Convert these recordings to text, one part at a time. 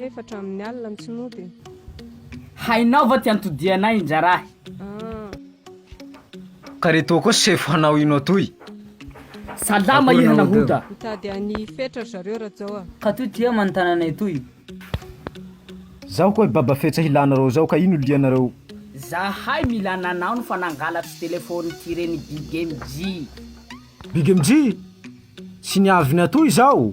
Efatra amin'ny alina ny tsy mody e. Hainao va ty antodianay injarahy. Ka re toa koa sefo hanao ino atoy? Salama iha nahoda. Mitady an'i Fetra ry zareo Rajao a. Ka toy ty eo manontana anay toy. Zaho koa i Baba Fetsa hilanareo zao ka ino lianareo? Zahay mila nanao ny fanangalatro telephone ty re ny Big MJ. Big MJ? Tsy niavy ny atoy zao?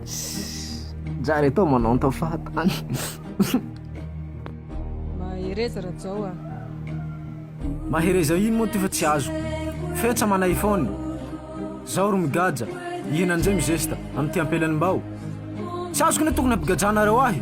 Zary atao manao ny tao fahatany. Mahereza Rajao a. Mahereza ino moa ty fa tsy azo. Fetsa mana iphone. Zao ro migadra, hihina njay mizesta, amin'ity ampelany mbao. Tsy azoko ny tokony ampigadrana reo ahy.